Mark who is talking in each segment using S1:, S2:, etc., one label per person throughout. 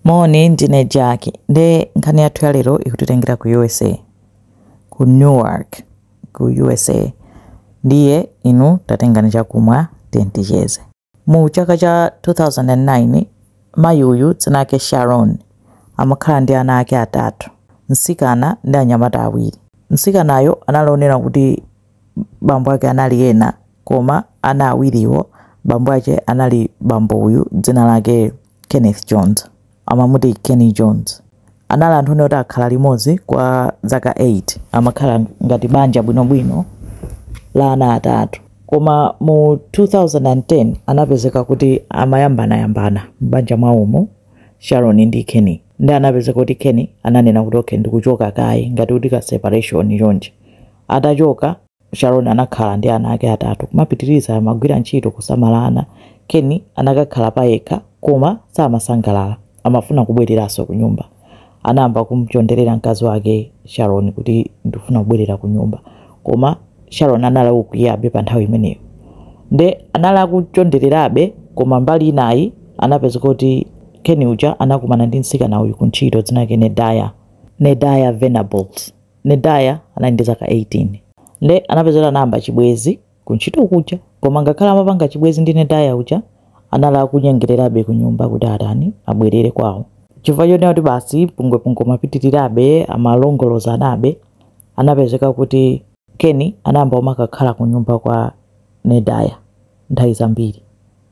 S1: Moni, ndine Jack. Nde nkhani yathu ya lero ikutitengera ku USA, ku New York, ku USA. Ndiye inu tatengani chakumwa tiyeni ticheze. Mu chaka cha 2009, mayi uyu dzina lake Sharon amakhala ndi ana ake atatu, mtsikana ndi anyamata awiri. Mtsikanayo anali onena kuti bambo ake anali ena koma ana awiriwo bambo ake anali bambo uyu dzina lake kenneth jones amamuti kenny jones anali anthu oti akhala limodzi kwa zaka 8 amakhala ngati banja bwinobwino la ana atatu koma mu 2010 anapezeka kuti amayambanayambana m'banja mwawomu sharon ndi kenny nde anapezeka kuti kenny ananena kuti okay ndikuchoka kaye ngati kuti ka separation chonchi Atachoka, Sharon anakhala ndi ana ake atatu. Kumapitiriza, amagwira ntchito, kusamala ana. Ken anakakhala payekha, koma samasangalala. Amafuna kubwereranso kunyumba. Anayamba kumchonderera mkazi wake, Sharon, kuti ndikufuna kubwerera kunyumba. Koma Sharon anali wokwiyabe pa nthawi imeneyo. Nde anali akuchondererabe, koma mbali inayi anapezeka kuti Ken uja anakumana ndi mtsikana uyu kuntchito, dzina lake Nedaya, Nedaya Venables. Nedaya anali ndi zaka 18 nde anapezeka kuti anayamba chibwezi ku ntchito kuja koma ngakhale amapanga chibwezi ndi Nedaya uja anali akunyengererabe kunyumba kuti atani abwerere kwawo chifukwa chonena kuti basi pungwepungwe umapitirirabe amalongolozanabe anapezeka kuti Keni anayamba kumakakhala kunyumba kwa Nedaya nthawi zambiri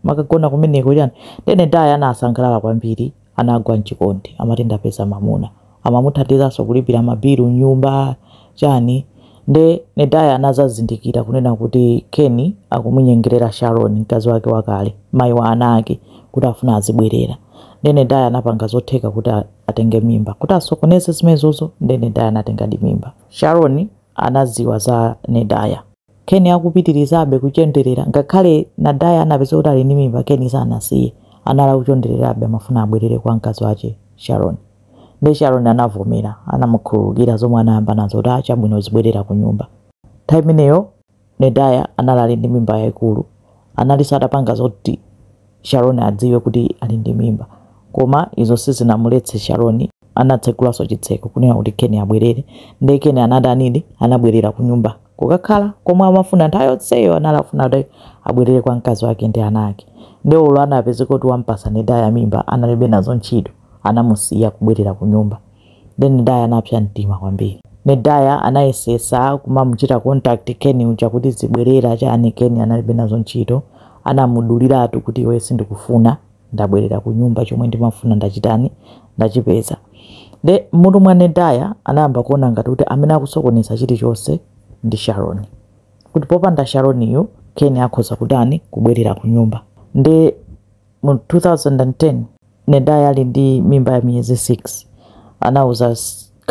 S1: amakagona kumeneko chani nde nedaya anasangalala kwambiri anagwa mchikondi amati ndapeza mamuna amamuthandizanso kulipira mabilu nyumba chani nde nedaya anazazindikira kunena kuti keni akumunyengerera sharon mkazi wake wakale mayi wa ana ake kuti afuna azibwerera nde nedaya anapanga zotheka kuti a- atenge mimba kuti asokoneze zimenezozo nde nedaya anatengadi mimba sharon anaziwa za nedaya Ken akupitirizabe kuchonderera, ngakhale Nedaya anapezeka kuti ali ndi mimba, Ken sanasiye. Anali akuchondererabe, amafuna abwerere kwa mkazi wache, Sharon. Nde Sharon anavomera, anamukhululukira zomwe anayambanazo kuti ah chabwino uzibwerera kunyumba. Nthawi imeneyo Nedaya anali ali ndi mimba yaikulu, analinso atapanga zoti Sharon adziwe kuti ali ndi mimba. Koma izo sizinamuletse Sharon. Anatsegulanso chitseko kunena kuti Ken abwerere. Ndiye Ken anatanidi? Anabwerera kunyumba kukakhala komwe amafuna. Nthawi yonseyo anali akufuna kuti abwerere kwa mkazi wake ndi ana ake. Ndiye olo anapezeka kuti wamupatsa Nedaya mimba, analibe nazo ntchito. Anamusiya kubwerera kunyumba. nde Nedaya anapsa mtima kwambiri. Nedaya anayesesa kumamuchita contact Ken uja kuti zibwerera chani Ken analibe nazo ntchito anamuduliratu kuti iwe sindikufuna ndabwerera ku nyumba chomwe ndimafuna ndachitani ndachipeza nde m'mutu mwa Nedaya anayamba kuona ngati kuti amene akusokoneza chilichonse ndi Sharon kuti popanda Sharon-yu Ken akhoza kutani kubwerera ku nyumba nde Mu 2010, Nedaya ali ndi mimba ya miyezi 6, anauza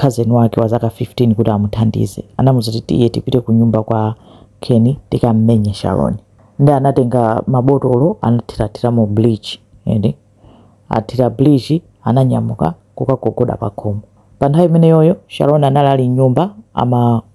S1: cousin wake wazaka 15 kuti amuthandize. Anamuuza kuti, Tiye tipite kunyumba kwa Ken tikam'menye Sharon. Ndiye anatenga mabotolo anathirathiramo bleach ati. Athira bleach ananyamuka kukagogoda pakhomo. Pa nthawi imeneyoyo Sharon anali ali m'nyumba ama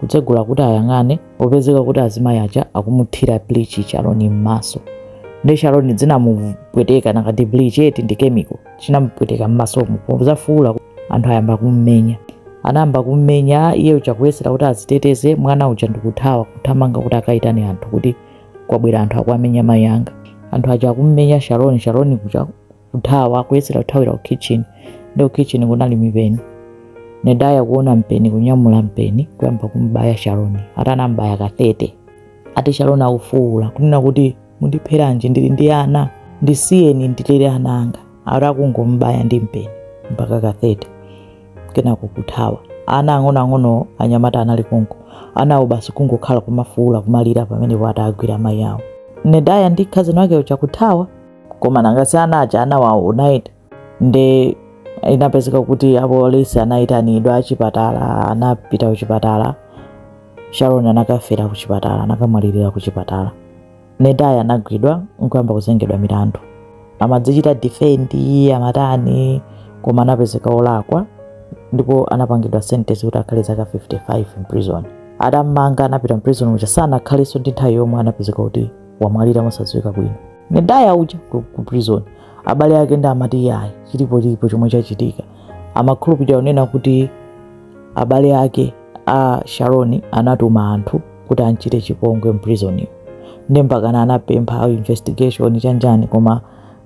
S1: kutsegula kuti ayang'ane kupezeka kuti azimayi aja akumuthira bleach sharoni m'maso nde sharoni zinamupweteka nanga si bleach eti ndi chemical chinamupweteka m'masomo pofuula anthu ayamba kummenya anayamba kummenya iye uja kuyesera kuti aziteteze mwana uja nkuthawa kuthamanga kuti akayitane anthu kuti kwabwera anthu akuwamenya mayi anga anthu aja akummenya sharoni sharoni uja kuthawa kuyesera kuthawira ku kitchen nde ku kitchen kunali mipeni nedaya kuona mpeni kunyamula mpeni kuyamba kumbaya sharoni ati anambaya ka 30 ati sharoni akufuwula kunena kuti mundipheranji ndili ndi ana ndisiyeni ndilere ana anga ati akungombaya ndi mpeni mpaka ka 30 kenako kuthawa ana ang'onoang'ono anyamata anali konko anawo basi kungokhala kumafuwula kumalira pamenepo ati agwira mayi awo nedaya ndi cousin wake uja kuthawa koma nanga si ana aja anawaona eti nde inapezeka kuti apolisi anayitanidwa achipatala anapita kuchipatala sharon anakafera kuchipatala anakamwalirira kuchipatala nedaya anagwidwa nkuyamba kuzengedwa milandu amadzichita defendi amatani koma anapezeka olakwa ndipo anapangidwa sentence kuti akhale zaka 55 in prison atamanga anapita m'prison uja sanakhalenso ndi nthawi yomweyo anapezeka kuti wamwalira mosadziwika bwino nedaya uja ku, ku prison abale ake nde amati yayi chilipo chilipo chomwe chachitika amakhulupirira kunena kuti abale ake a sharoni anatuma anthu kuti amchite chipongwe m'prison-mo nde mpakana anapempha investigation chanichani koma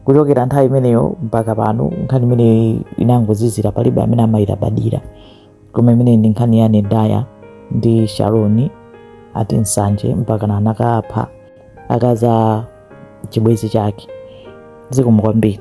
S1: kuchokera nthawi imeneyo mpaka pano nkhani imeneyo inangozizira palibe amene amayilabadira koma imeneyi ndi nkhani ya nedaya ndi sharoni ati nsanje mpakana anakapha akazi a chibwenzi chake zikomo kwambiri